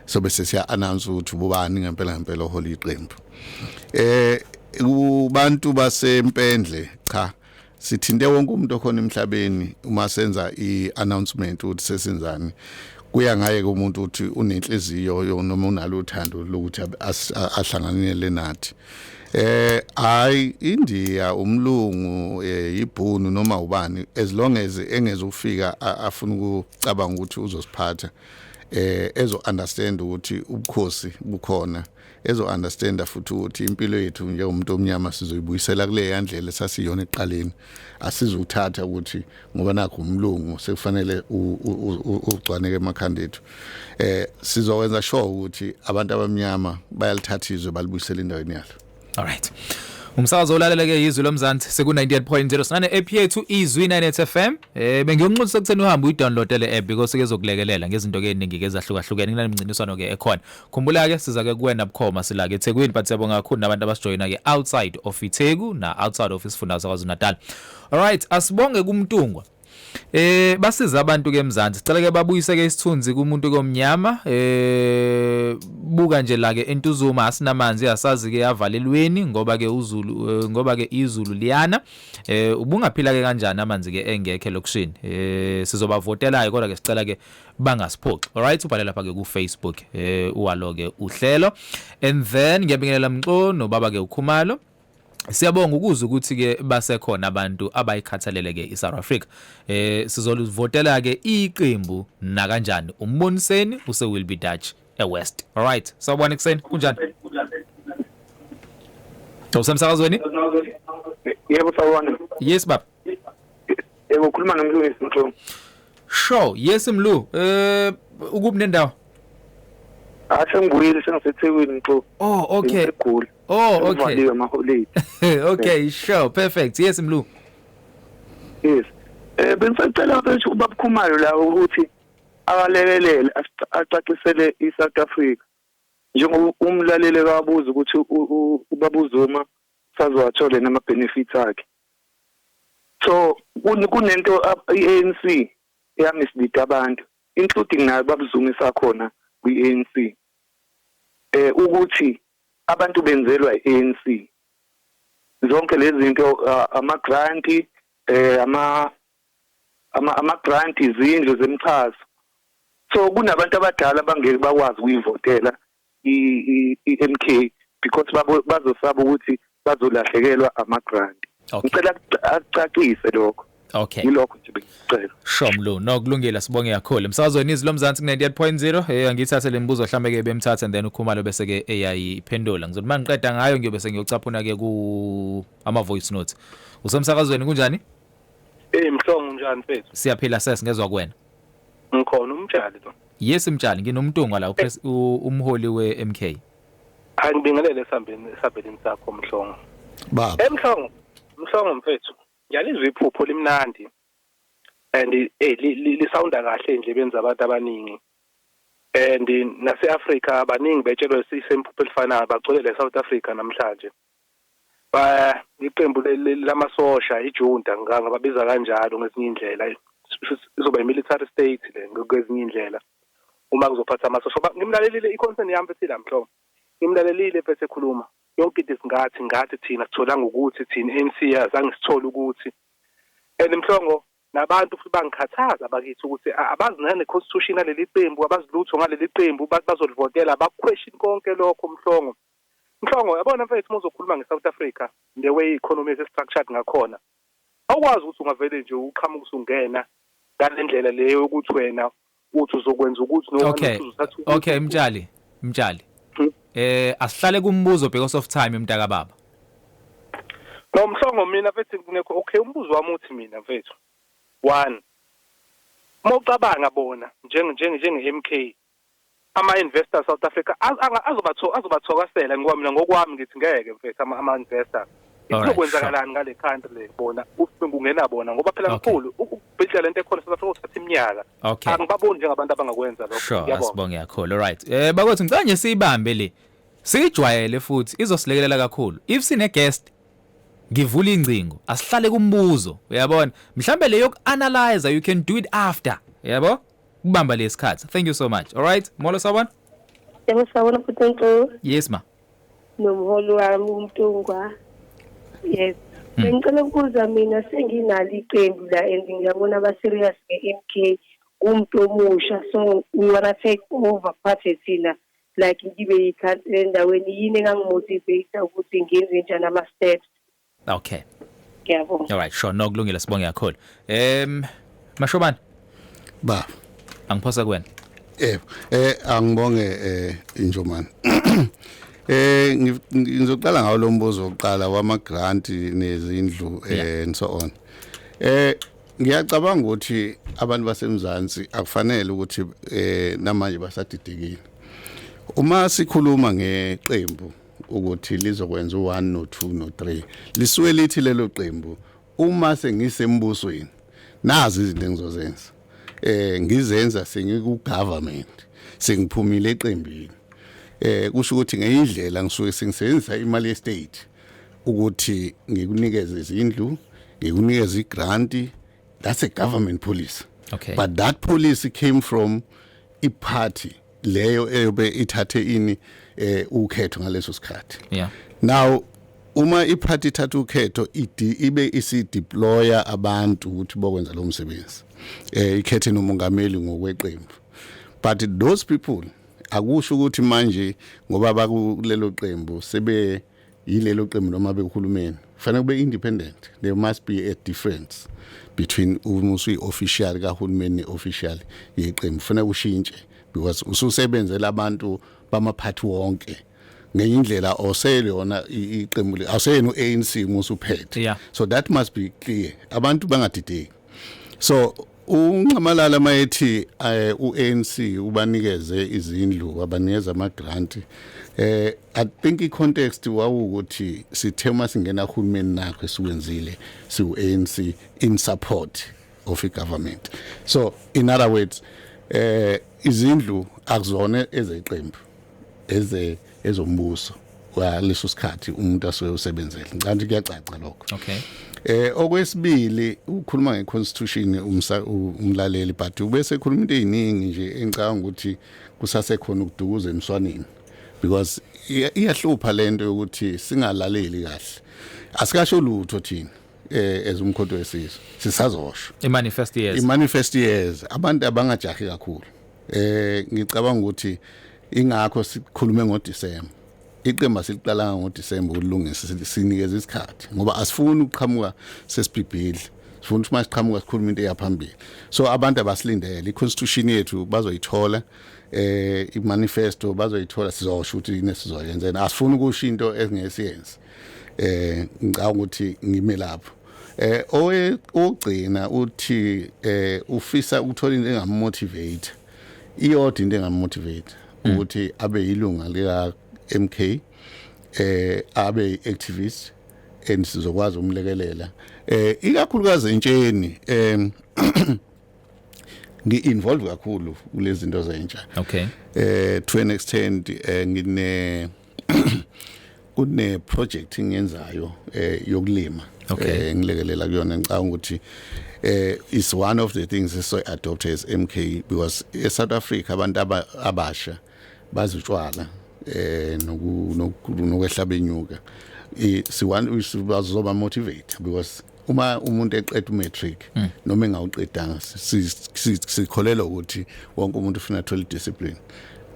sobe sesiya announce ukuthi ubani ngempela ngempela oholi iqembu eh kubantu basempendle cha sithinte wonke umuntu okhona emhlabeni uma senza i-announcement ukuthi sesenzani kuya ngaye kumuntu ukuthi unenhliziyo noma unalo uthando lokuthi ahlanganele nathi eh hayi India umlungu eh, ibhunu noma ubani as long as engeze ukufika afuna ukucabanga ukuthi uzosiphatha eh ezo understand ukuthi ubukhosi bukhona ezo understanda futhi ukuthi impilo yethu njengomuntu omnyama sizoyibuyisela kule yandlela sasiyona eqaleni asizuthatha ukuthi ngoba nakho umlungu sekufanele ugcwaneke emakhanda ethu eh sizokwenza sure ukuthi abantu abamnyama bayalithatha izwe balibuyisela endaweni yalo all right Umsakazo olaleleke izwi lomzansi seku 98.0 sinane app yethu izwi 98 FM eh bengiyonxusa kutheni uhambe uyidownload le app because kezokulekelela ngezinto ke eziningi ke ezahlukahlukene kunale mnciniswano ke ekhona Khumbula ke siza ke kuwena bukhoma sila ke eThekwini but siyabonga kakhulu nabantu abasijoyina ke outside of iTheku na outside of isifunda saKwaZulu-Natal. Alright, asibonge kuMtungwa. Eh basiza abantu ke eMzansi. Sicela ke babuyise ke isithunzi kumuntu komnyama. Eh buka nje la ke entuzuma asinamanzi asazi ke yavalelweni ngoba ke uZulu eh, ngoba ke izulu liyana. Eh ubungaphila ke kanjani amanzi ke engekhe lokushini. Eh sizobavotela ke kodwa ke sicela ke bangasiphoxi alright ubhale lapha ke ku Facebook eh uwalo ke uhlelo and then ngiyabingelela mxo no baba ke ukhumalo Siyabonga ukuzwa ukuthi ke basekhona abantu abayikhathalele ke iSouth Africa. Eh sizolivotela ke iqembu na kanjani? Umboniseni use will be Dutch e West. All right. Sawubona ekseni. Kunjani? Usemsakazweni? Yebo sawubona. Yes baba. Yebo ukhuluma nomlungisi Mthu. Sho, yes Mlu. Eh ukuphi nendawo? Ashe ah, ngibuyile sengisethekwini Mthu. Oh, okay. Ngigula. Oh, okay. Ngivaliwe ama holiday. Okay, sure, perfect. Yes Mlu. Yes. Eh bengisacela ukuthi ubabukhumayo la ukuthi akalekelele acacisele iSouth Africa. Njengoba umlalele kabuza ukuthi ubabuzuma sazowathole nama benefits akhe. So kunento i-ANC eya mislead abantu including nayo babuzungu esakhona kwi-ANC eh ukuthi abantu benzelwa i-ANC zonke lezi zinto ama grant eh ama ama ama grant izindlu zemchazo so kunabantu abadala abangeke bakwazi ukuyivotela i-MK because bazosaba ukuthi bazolahlekelwa ama-grant ngicela akucacise lokho Okay. Yilokho nje bengicela. Sho mlu, no kulungile sibonge kakhulu. Msazweni izwi lomzansi ku 98.0. Eh ngithathe lembuzo mhlambe ke bemthatha and then ukhumalo bese ke eyayiphendula. Ngizothi mangiqeda ngayo ngiyobe sengiyocaphuna ke ku ama voice notes. Usemsakazweni kunjani? Eh mhlongo unjani mfethu? Siyaphila sesingezwa kuwena. Ngikhona umtshali lo. Yes mtshali nginomntungwa la eh. umholi weMK. Angibingelele esambeni esabelini sakho Mhlongo. Baba. Emhlongo, Mhlongo mfethu, ngiyalizwa iphupho limnandi. And eh lisawunda kahle nje benza abantu abaningi. And nase-Africa abaningi betshelwe isemphupho elifanayo bagcwele le South Africa namhlanje. ba iqembu le- le- lamasosha ijunta nga- ngababiza kanjalo ngezinye indlela izoba imilitary state le nge- kwezinye indlela uma kuzophatha amasosha ngoba ngimlalelile i-concern yami futhi la mhlongo ngimlalelile mfethu ekhuluma yonke into isingathi ngathi thina sitholanga ukuthi thina i-anc azange sithole ukuthi and mhlongo nabantu futhi bangikhathaza bakithi ukuthi a- abazi nane-constitution yaleli qembu abazi lutho ngaleli qembu ba- bazolivotela bakuquestion konke lokho mhlongo Mhlongo yabona mfethu uma uzokhuluma ngeSouth Africa the way i-economy ese-structured ngakhona awukwazi ukuthi ungavele nje uqhamuke usungena ngale ndlela leyo yokuthi wena uthi uzokwenza ukuthi okay okay mtshali mtshali hmm? eh asihlale kumbuzo because of time mntaka baba no mhlongo mina mfethu ngekho okay umbuzo wami uthi mina mfethu one mawucabanga bona njenge njenge njenge MK Ama-investors South Africa az- anga- azobatho- azobathokasela ngoba mina ngokwami ngithi ngeke mfethu ama- ama-investors Alright, kuzokwenzakalani ngale country le bona u- kungena bona ngoba phela Okay. mkhulu u- ukubhidla lento ekhona South Africa kuthatha iminyaka Okay. angibaboni njengabantu abangakwenza lokho sure Ngiyabonga. asibonge kakhulu alright eh bakwethu ngicela nje siyibambe le siyijwayele futhi izosilekelela kakhulu if sine guest ngivula ingcingo asihlale kumbuzo uyabona mhlambe le yokuanalyze you can do it after yabo kubamba lesikhathi thank you so much all right molo sawubona yebo sawubona futhi nto yes ma nomholi wami umntungwa yes hmm. bengicela ukubuza mina senginalo iqembu la and ngiyabona abaserious nge-m k umuntu omusha so we wanna take over party thina like ngibe yikhansela endaweni yini engangimotivate ukuthi ngenze njani ama-steps Okay. Ngiyabonga. All right, sure. No kulungile sibonge kakhulu. Em Mashobana. Ba. Angiphosa kuwena. Eh eh angibonge eh injomani. Eh ngizoqala ngawo lo mbuzo oqala wama grant nezindlu eh and so on. Eh ngiyacabanga ukuthi abantu basemzansi akufanele ukuthi eh namanje basadidekile. Uma sikhuluma ngeqembu ukuthi lizokwenza u-1 no-2 no-3 lisuke lithi lelo qembu uma sengisembusweni nazi izinto engizozenza eh ngizenza sengikugovernment sengiphumile eqembini eh kusho ukuthi ngeyindlela ngisuke sengisebenzisa imali yestate ukuthi ngikunikeze izindlu ngikunikeze igrant that's a government policy okay but that policy came from iparty leyo eyobe ithathe ini eh ukhetho ngaleso sikhathi yeah now uma iphathi ithatha ukhetho ibe isideploya abantu ukuthi bokwenza lo msebenzi eh ikhethe nomongameli ngokweqembu but those people akusho ukuthi manje ngoba bakulelo qembu sebe yilelo qembu noma abekuhulumeni kufanele kube independent there must be a difference between uma usuyi-official kahulumeni ne-official yeqembu kufanele ushintshe because ususebenzela abantu bamaphathi wonke ngenye indlela osele yona iqembu le awuseyena u-anc uma usuphethe so that must be clear abantu bangadideki so unxamalala mayethi eh, uANC ubanikeze izindlu wabanikeza ama grant eh i think i context wawukuthi sithe uma singena hulumeni nakho esikwenzile siuANC in support of i government so in other words eh izindlu akuzona ezeqembu eze ezombuso waleso sikhathi umuntu asuke usebenzele ngicabanga kuyacaca lokho okay eh okwesibili ukhuluma ngeconstitution umlaleli but ubese ekhuluma into eziningi nje engicabanga ukuthi kusase khona ukudukuza emswaneni because iyahlupha lento yokuthi singalaleli kahle asikasho lutho thina eh as umkhonto wesizwe sisazosho imanifest years imanifest years abantu abangajahi kakhulu Eh ngicabanga ukuthi ingakho sikhulume ngoDisemba. Iqemba siliqalanga ngoDisemba ukulungisa sinikeza isikhathi ngoba asifuni ukuqhamuka sesibhibhidla. Sifuna ukuthi masiqhamuka sikhuluma into eyaphambili. So abantu abasilindele iconstitution yethu bazoyithola eh imanifesto bazoyithola sizosho ukuthi yini esizoyenza. Asifuni ukusho into engesiyenzi. eh ngicabanga ukuthi ngime lapho eh owe ogcina uthi eh ufisa ukuthola into engamotivate iyodwa into engamotivate mm. ukuthi abe yilunga lika MK eh abe activist and sizokwazi umlekelela eh ikakhulukazi entsheni em ngi-involve kakhulu kulezinto zentsha okay eh to an extent eh, ngine kune project engiyenzayo eh yokulima eh ngilekelela kuyona ngicabanga ukuthi eh is one of the things so adopt as MK because e South Africa abantu abasha bazitshwala eh noku nokwehlaba inyuka siwan sibazoba motivate because uma umuntu eqeda umatric hmm. noma engawuqedanga sikholelwa ukuthi wonke umuntu ufuna athola discipline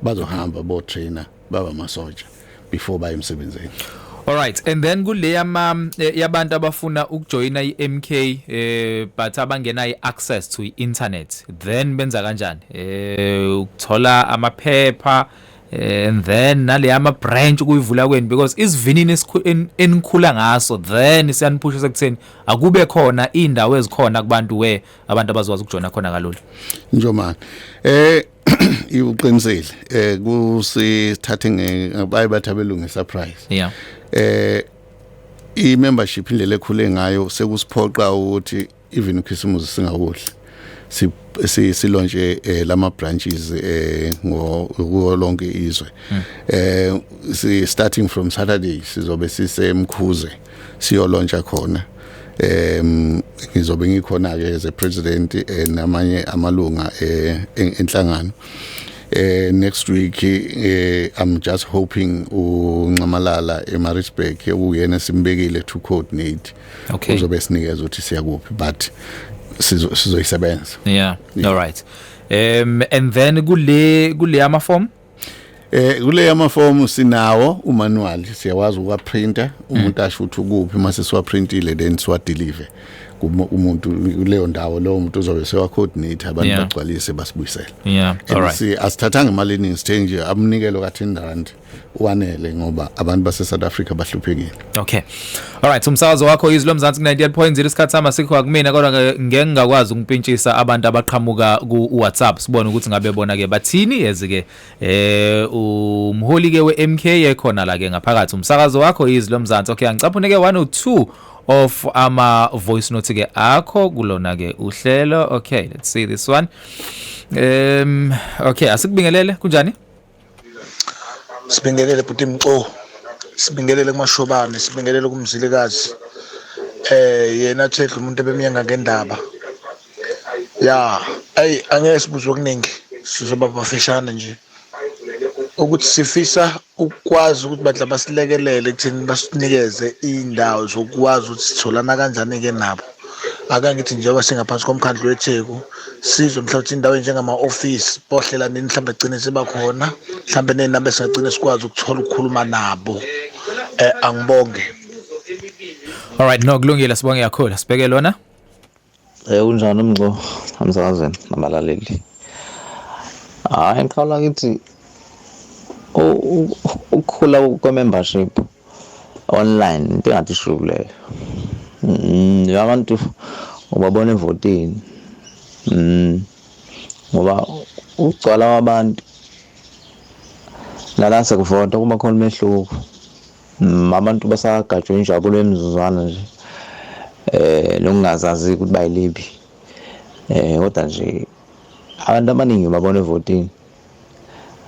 bazohamba bo trainer baba masoja before baye emsebenzini All right and then kuleya ma eh, yabantu abafuna ukujoina iMK eh but abangena iaccess to internet then benza kanjani eh ukuthola amaphepha Eh, and then naleya ama branch kuyivula kwenu because isivinini enikhula ngaso then siyaniphusha sekutheni akube khona indawo ezikhona kubantu we abantu abazwazi ukujona khona kalula njomani eh iwuqinisile eh kusithathe ngebaye bathabelunge surprise yeah eh i membership indlela ekhule ngayo sekusiphoqa ukuthi even ukhisimuzi singawudli silontshe eh, lama branches eh, ngo kuwo lonke izwe hmm. eh si starting from Saturday sizobe sisemkhuze siyolontsha khona em ngizobe ngikhona ke as a president eh, namanye amalunga eh, enhlangano eh next week eh i'm just hoping unxamalala eMaritzburg ukuyena simbekile to coordinate okay uzobe sinikeza ukuthi siyakuphi but sizoyisebenza sizo yeah. yeah all right um and then kule kule ama form Eh kule ama form sinawo umanual siyawazi ukwa printer umuntu mm. asho ukuthi ukuphi mase siwa printile then siwa deliver umuntu kuleyo ndawo lowo muntu uzobe sewa coordinate abantu yeah. bagcwalise basibuyisela yeah all right si asithathanga imali eningi sithe nje amnikelo ka 10 rand wanele ngoba abantu base South Africa bahluphekile okay all right umsakazo wakho izwi lomzansi ku 98.0 isikhathi sama sikho akumina kodwa ngeke ngakwazi ukumpintshisa abantu abaqhamuka ku WhatsApp sibone ukuthi ngabe bona ke bathini yazi ke eh umholi ke we MK ekhona la ke ngaphakathi umsakazo wakho izwi lomzansi okay angicaphune ke 102 of ama voice note ke akho kulona ke uhlelo okay let's see this one um okay asikubingelele kunjani sibingelele bhuti mco sibingelele kumashobane sibingelele kumzilikazi eh yena thedla umuntu ebemyenga ngendaba ya ayi angeke sibuze okuningi sizoba bafishane nje ukuthi sifisa ukwazi ukuthi badla basilekelele ekutheni basinikeze iy'ndawo zokwazi ukuthi sitholana kanjani-ke nabo ake ngithi njengoba singaphansi komkhandlu wetheku sizwe mhlawumbe ukuthi indawo enjengama-ofisi bohlela nini mhlawumbe gcine sebakhona mhlawumbe neynamba esingagcine sikwazi ukuthola ukukhuluma nabo um angibonge all right no kulungile sibonge kakhulu sibheke lona Eh unjani umnqo amsaze nabalaleli. Hayi ngiqala ngithi ukukhula kwe membership online into engathi shuku leyo mm, nje abantu ubabona evotini mm, ngoba ukugcwala kwabantu lala sekuvota kuba khona umehluko mm, abantu basagajwe injabulo emizuzwana nje eh lokungazazi ukuthi bayiliphi eh kodwa nje abantu abaningi babona evotini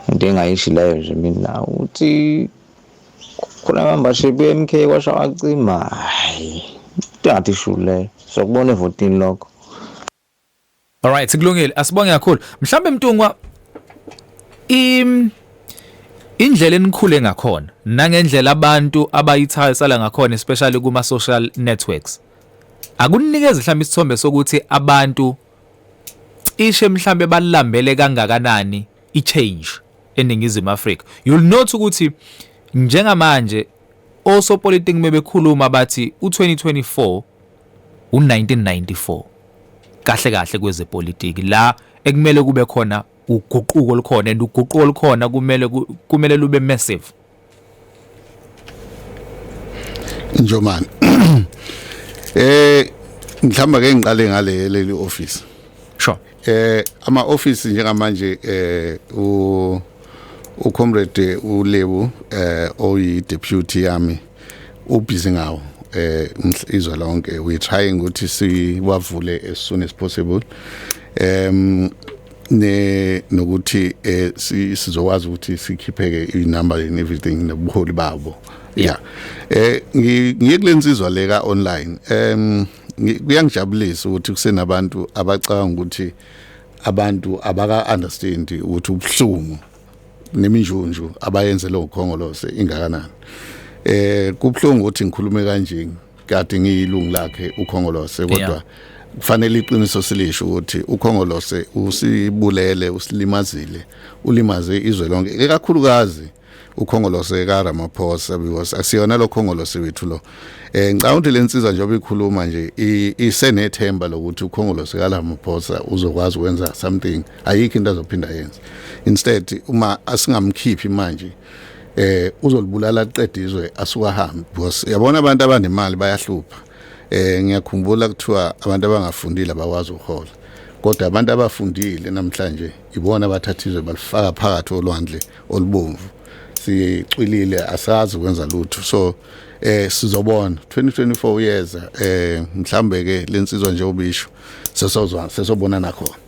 into engayishi leyo nje mina ukuthi khona membership ye-mk kwasha wacima hayi tati shulu leyo sokubona evotini lokho Alright sikulungile asibonge kakhulu mhlambe mntungwa im indlela enikhule ngakhona nangendlela abantu abayithayo sala ngakhona especially kuma social networks akunikeza mhlawumbe isithombe sokuthi abantu cishe mhlawumbe balambele kangakanani i-change eNingizimu Afrika. You'll note ukuthi njengamanje osopolitiki mebekhuluma bathi u-2024 u-1994 kahle kahle kwezepolitiki la ekumele kube khona uguquko olukhona and uguquko olukhona kumele kumele lube massive Njomani eh mhlamba ke ngiqale ngale leli office sure eh ama office njengamanje eh u u comrade uLebu eh oyi deputy yami ubhizi ngawo eh izwe lonke we trying ukuthi siwavule as soon as possible um ne nokuthi eh sizokwazi ukuthi sikhipheke inumber and everything nobuholi babo yeah eh ngiye kulensizwa leka online em kuyangijabulisa ukuthi kusenabantu abacabanga ukuthi abantu abaka understand ukuthi ubuhlungu neminjunju abayenze lo khongolose ingakanani eh kubhlungu ukuthi ngikhulume kanjeni kade ngiyilungu lakhe ukhongolose kodwa yeah. kufanele iqiniso silisho ukuthi ukhongolose usibulele usilimazile ulimaze izwe lonke ekakhulukazi ukhongolose ka Ramaphosa because asiyona lo khongolose wethu lo eh ngicabanga lensiza njengoba ikhuluma nje isenethemba lokuthi ukhongolose ka Ramaphosa uzokwazi ukwenza something ayikho into azophinda yenze instead uma asingamkhiphi manje eh uzolibulala aqede izwe asuka hambi because yabona abantu abanemali bayahlupha eh ngiyakhumbula kuthiwa abantu abangafundile abakwazi ukuhola kodwa abantu abafundile namhlanje ibona abathatha izwe balifaka phakathi olwandle olubomvu sicwilile asazi kwenza lutho so eh sizobona 2024 yeza eh mhlambe ke lensizwa nje obisho sesozwa sesobona nakhona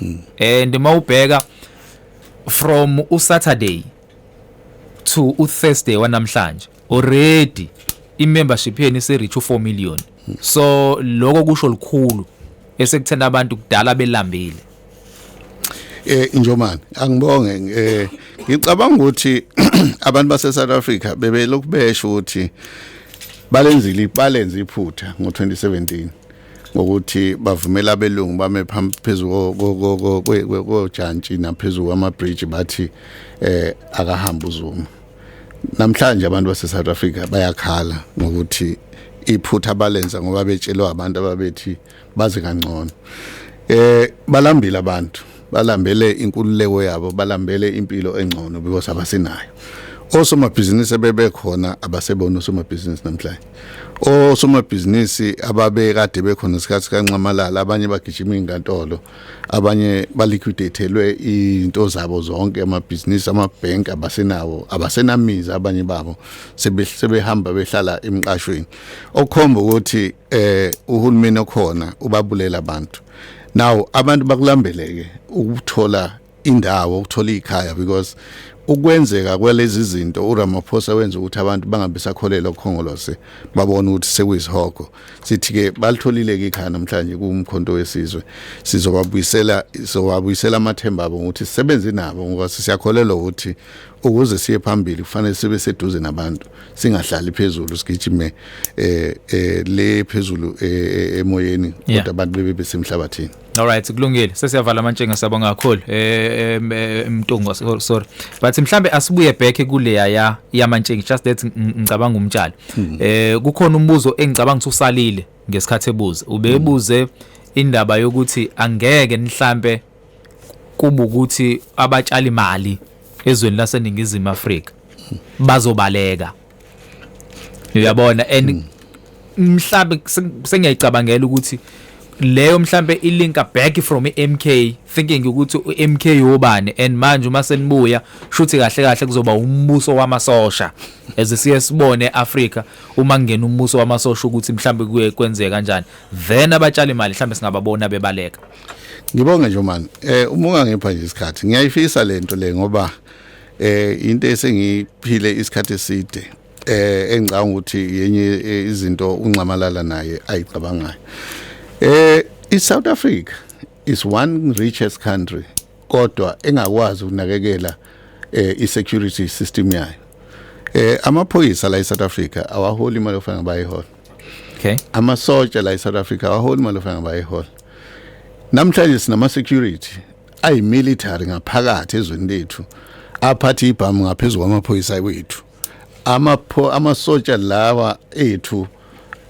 mm. and uma ubheka from usaturday to uthursday wanamhlanje already imembership yenu ise-reach u-4 million mm. so lokho kusho lukhulu esekuthena abantu kudala belambile eh njomani angibonge eh ngicabanga ukuthi abantu base South Africa bebelokubesho ukuthi balenzile ibalenze iphutha ngo 2017 ngokuthi bavumela abelungu bame phezulu kojantshi naphezulu kwamabridge bathi eh akahamba uZuma namhlanje abantu baseSouth Africa bayakhala ngokuthi iphutha balenza ngoba betshelwa abantu ababethi baze kangcono eh balambile abantu balambele inkululeko yabo balambele impilo engcono because abasinayo osomabhizinisi bebekhona abasebona osomabhizinisi namhlanje osomabhizinisi ababekade bekhona isikhathi kanxamalala abanye bagijima inkantolo abanye baliquidathelwe into zabo zonke amabhizinisi amabhenki abasenawo abasenamizi abanye babo sebehamba behlala emqashweni okukhomba ukuthi eh uhulumeni okhona ubabulela abantu now abantu bakulambeleke ukuthola indawo ukuthola ikhaya because ukwenzeka kwalezi zinto uRamaphosa wenza ukuthi abantu bangabisakholelwa kukhongolose babona ukuthi sekuyisihogo sithi ke balitholile ke ikhaya namhlanje kumkhonto wesizwe sizobabuyisela sizobabuyisela amathemba abo ukuthi sisebenze nabo ngoba siyakholelwa ukuthi ukuze siye phambili kufanele sibe seduze nabantu singahlali phezulu sigijime eh, eh le phezulu eh, eh, emoyeni kodwa abantu bebe besemhlabathini Alright kulungile sesiyavala amantshenga siyabonga kakhulu eh emtungo eh, eh, sorry but mhlambe asibuye back kuleya ya yamantshenga just that ngicabanga umtshalo hmm. eh kukhona umbuzo engicabanga ukuthi usalile ngesikhathi ebuza ubebuze hmm. indaba yokuthi angeke nihlambe kuba ukuthi abatshali imali ezweni laseningizimu Afrika hmm. bazobaleka uyabona and hmm. mhlambe sengiyayicabangela ukuthi leyo mhlambe ilinka back from iMK thinking ukuthi uMK yobani and manje uma senibuya shuthi kahle kahle kuzoba umbuso wamasosha as siye sibone eAfrica uma kungena umbuso wamasosha ukuthi mhlambe kuye kwenzeka kanjani then abatshali imali mhlambe singababona bebaleka ngibonge nje man eh uma ungangipha nje isikhathi ngiyayifisa lento le ngoba eh into esengiphile isikhathi eside eh engicanga ukuthi yenye eh, izinto unxamalala naye ayicabangayo eh iSouth Africa is one richest country kodwa engakwazi ukunakekela eh i-security system yayo eh amaphoyisa la eSouth Africa awaholi imali ofana bayihola okay amasotsha la eSouth Africa awaholi imali ofana bayihola namhlanje sinama security ayi military ngaphakathi ezweni lethu aphathe ibhamu ngaphezulu kwamaphoyisa wethu amapho amasotsha lawa ethu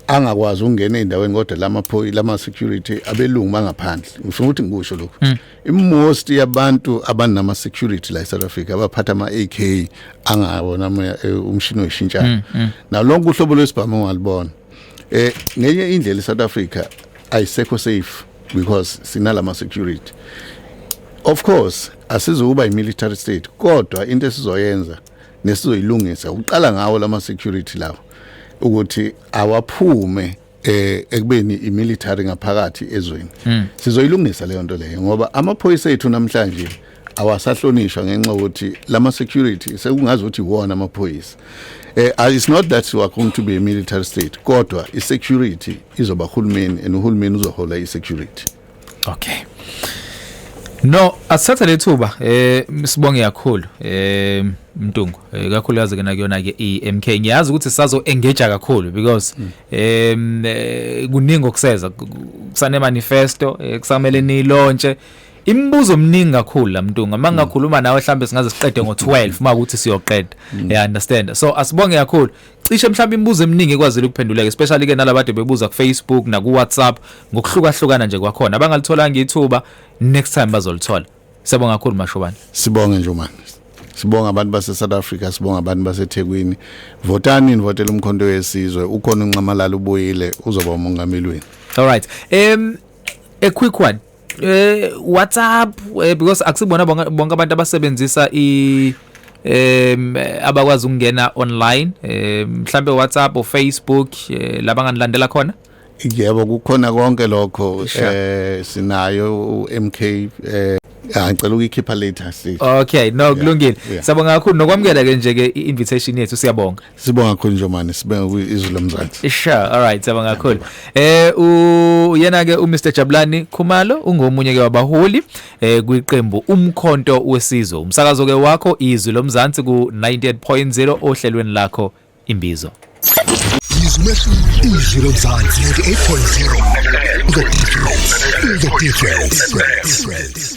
angakwazi ukungena endaweni kodwa lamaphoyi lama security abelungu bangaphandle ngifuna ukuthi ngikusho lokho hmm. imost yabantu abanama security la eSouth Africa abaphatha ama AK angawona eh, umshini weshintshana hmm, hmm. nalonke uhlobo lwesibhamu ngalibona eh ngenye indlela eSouth Africa ayisekho safe because sinalama security of course asizukuba i military state kodwa into esizoyenza nesizoyilungisa uqala ngawo lama security lawo ukuthi awaphume eh ekubeni imilitary ngaphakathi ezweni hmm. sizoyilungisa leyo nto leyo ngoba amaphoyisa ethu namhlanje awasahlonishwa ngenxa ukuthi lama security sekungazi ukuthi iwona amaphoyisa eh uh, it's not that we are going to be a military state kodwa i security izoba hulumeni and uhulumeni uzohola i security okay No, asithathe lethuba eh sibonge kakhulu eh Mtungu eh, kakhulu yazi kena kuyona ke iMK ngiyazi ukuthi sazo engage kakhulu because mm. em eh, kuningi okuseza kusane manifesto eh, kusamele nilontshe imibuzo mningi kakhulu la mntunga uma ngingakhuluma nawe mhlawumbe singaze siqede ngo-12 uma ukuthi siyoqeda mm. ya understand so asibonge kakhulu cishe mhlawumbe imibuzo eminingi ekwazile ukuphenduleka especially ke nalabade bebuza kufacebook nakuwhatsapp ngokuhlukahlukana nje kwakhona abangalitholanga ithuba next time bazolithola siyabonga kakhulu mashobane sibonge nje manje sibonga abantu base South Africa sibonga abantu base Thekwini votani nivotela umkhonto wesizwe ukhona unxamalala ubuyile uzoba umongameli wenu all right um a quick one eh WhatsApp eh, because akusibona bonke abantu abasebenzisa i em abakwazi ukungena online eh mhlambe WhatsApp or Facebook eh, labanganilandela khona Yebo kukhona konke lokho eh sinayo uMK eh ah, ngicela ukuyikhipha later sithi Okay no kulungile siyabonga kakhulu nokwamukela ke nje ke invitation yethu siyabonga Sibonga kakhulu Njomani sibonga kuizwi lomzansi. Sure, all right, sibonga kakhulu. Eh uyena ke uMr Jabulani Khumalo ungomunye ke wabaholi eh kwiqembu umkhonto wesizwe. Umsakazo ke wakho izwi lomzansi ku 98.0 ohlelweni lakho imbizo. Izwi lomzansi 98.0 The difference. The difference.